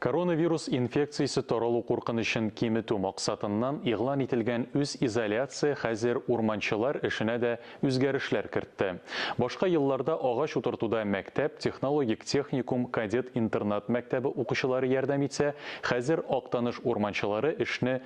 Коронавирус инфекциясе таралу куркынычын киметү максатыннан игълан ителгән үз изоляция хәзер урманчылар эшенә дә үзгәрешләр кертте. Башка елларда агач утыртуда мәктәп, технологик техникум, кадет-интернат мәктәбе укучылары ярдәм итсә, хәзер Актаныш урманчылары эшне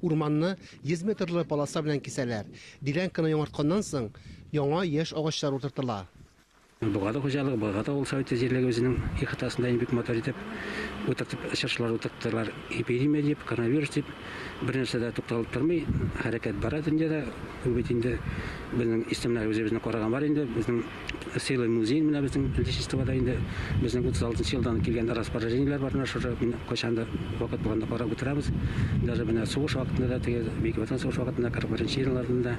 Урманны йөз метрлы полоса белән кисәләр. Делянканы яңартканнан соң, яңа яшь агачлар утыртыла. Богаты хуҗалыгы, Богаты авыл советы җирлеге үзенең ихатасында инде бик матур итеп утыртып, чыршылар утырттылар. Эпидемия дип, коронавирус дип, бернәрсә дә тукталып тормый, хәрәкәт бара дөньяда. Ул бит инде безнең исемнәр үзебезне караган бар инде, безнең. Целый музей менә безнең Отечествода инде безнең 36 нчы елдан килгән распоряжениеләр бар менә шушы кайчан да вакыт булганда карап утырабыз. Даже менә сугыш вакытында да теге Бөек Ватан сугыш вакытында 41 елларында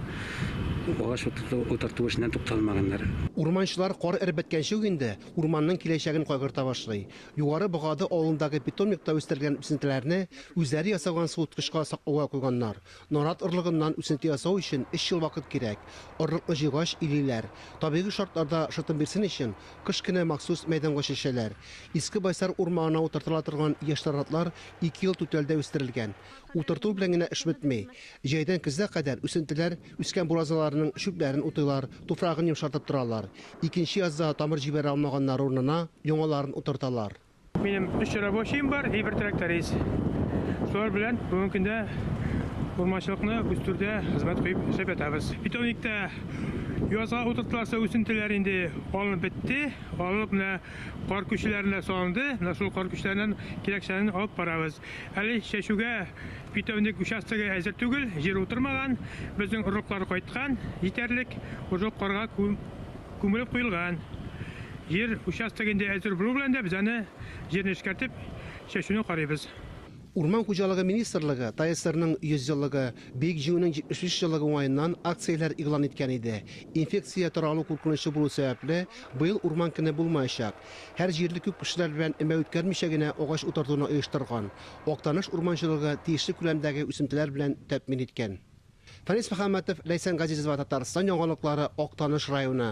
агач утырту эшеннән тукталмаганнар. Урманчылар кар эреп беткәнче үк инде урманның киләчәген кайгырта башлый. Югары Богады авылындагы питомникта үстерелгән үсентеләрне үзләре ясаган суыткычка саклауга куйганнар. Нарат орлыгыннан үсенте ясау өчен өч ел вакыт кирәк. Орлыкны җыйгач, илиләр. Табигый шартларда шытым бирсен өчен, кыш көне махсус мәйданга чәчәләр. Иске Байсар урманына утыртыла торган яшь наратлар ике ел түтәлдә үстерелгән. Утырту белән генә эш бетми. Җәйдән көзгә кадәр үсентеләр үскән буразналарның чүпләрен утыйлар, туфрагын йомшартып торалар. Икенче язда тамыр җибәрә алмаганнары урынына яңаларын утырталар. Минем өч рабочим бар и бер тракторист. Шулар белән бүгенге көндә урманчылыкны үстерүдә хезмәт куеп эшләп ятабыз. Питомникта язга утыртыласы үсентеләр инде алынып бетте. Алынып менә кар күчеләренә салынды. Менә шул кар күчеләреннән кирәкчәнен алып барабыз. Әле чәчүгә питомник участогы әзер түгел, җир утырмаган. Безнең орлыклар кайткан җитәрлек. Уже карга күм Күмелеп куелган җир участогы инде әзер булу белән дә, без аны җирне эшкәртеп, чәчүне карыйбыз. Урман хуҗалыгы министрлыгы ТАЭСРның 100 еллыгы, Бөек Җиңүнең 75 еллыгы уңаеннан акцияләр игълан иткән иде. Инфекция таралу куркынычы булу сәбәпле, быел Урман көне булмаячак. Һәр җирле күп кешеләр белән өмә үткәрмичә генә агач утыртуны оештырган. Актаныш урманчылыгы тиешле күләмдәге үсентеләр белән тәэмин иткән. Фәнис Мөхәммәтов, Ләйсән Газизова, Татарстан яңалыклары, Актаныш районы.